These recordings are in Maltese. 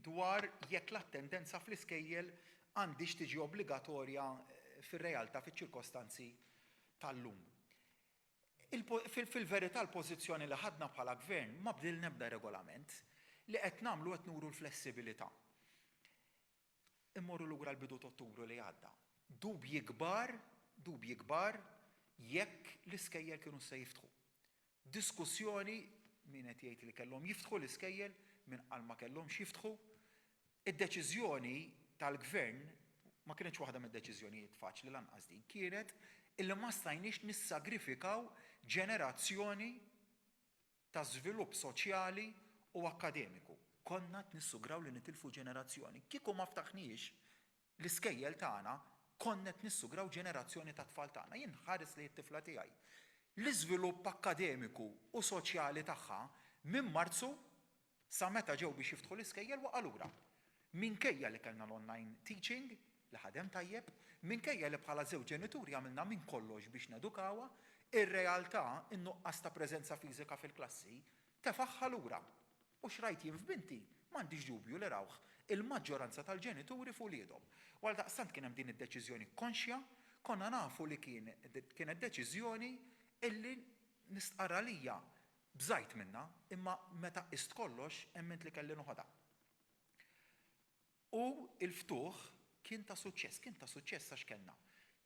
dwar jekk l-attendenza fl-iskejjel għandhiex tiġi obbligatorja fir-realtà fiċ-ċirkostanzi tal-lum. Fil-verità l-pożizzjoni li ħadna bħala Gvern ma bdilna ebda regolament. Li qed nagħmlu qed nuru l-flessibilità. Immorru lura l-bidu ta' Ottubru li għadda. Dubji kbar, dubji kbar jekk l-iskejjel kienux se jiftħu. B'diskussjoni, min qed jgħid li kellhom jiftħu l-iskejjel, min qal ma kellhomx jiftħu, id-deċiżjoni tal-Gvern, ma kinitx waħda mid-deċiżjonijiet faċli lanqas din, kienet illi ma stajniex nissagrifikaw ġenerazzjoni ta' żvilupp soċjali u akkademiku. Konna qed nissugraw li nitilfu ġenerazzjoni. Kieku ma ftaħniex l-iskejjel tagħna konna qed nissugraw ġenerazzjoni tat-tfal tagħna. Jien nħares lejn it-tifla tiegħi. L-iżvilupp akkademiku u soċjali tagħha minn Marzu sa meta ġew biex jiftħu l-iskejjel waqa' lura. Minkejja li kellna l-online teaching li ħadem tajjeb, minkejja li bħala żewġ ġenituri għamilna minn kollox biex nedukawha, ir-realtà, in-nuqqas ta' preżenza fiżika fil-klassi, tefagħha lura. U x'rajt jien f'binti, m'għandix dubju li rawh il-maġġoranza tal-ġenituri f'uliedhom. U għaldaqstant kien hemm din id-deċiżjoni konxja, konna nafu li kien kienet deċiżjoni illi nistqarr għalija bżajt minnha, imma meta qist kollox emmint li kelli noħodha. U l-ftuħ kien ta' suċċess. Kien ta' suċċess għax kellna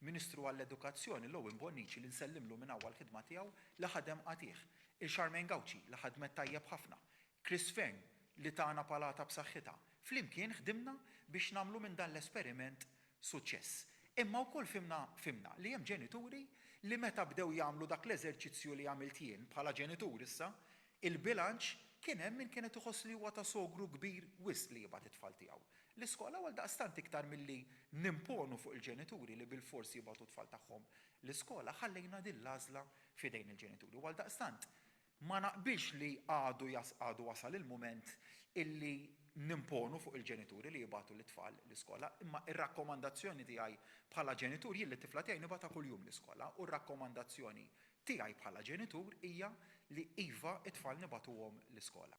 Ministru għall-Edukazzjoni, l-Owen Bonnici, li nsellimlu minn hawn għall-ħidma tiegħu li ħadem qatigħ, il-Charmaine Gauci li ħadmet tajjeb ħafna, Chris Fearne li tana palata b'saħħitha. Flimkien ħdimna biex nagħmlu minn dan l-esperiment suċċess. Imma wkoll fhimna fhimna li hemm ġenituri li meta bdew jagħmlu dak l-eżerċizzju li għamilt jien bħala ġenitur issa, Il-bilanċ, Kien hemm min kienet iħoss li huwa ta' sogru kbir wisq li jibgħat it-tfal tiegħu. L-iskola u għaldaqstant iktar milli nimponu fuq il-ġenituri li bilfors jibgħatu t-tfal tagħhom l-iskola ħallejna din l-għażla f'idejn il-ġenituri u għaldaqstant ma naqbilx li għadu għadu wasal il-mument illi nimponu fuq il-ġenituri li jibgħatu lit-tfal l-iskola imma r-rakkomandazzjoni tiegħi bħala ġenitur jien lit-tifla tiegħi nibgħatha kuljum l-iskola u r-rakkomandazzjoni tiegħi bħala ġenitur hija li iva t-tfal nibagħtuhom l-iskola.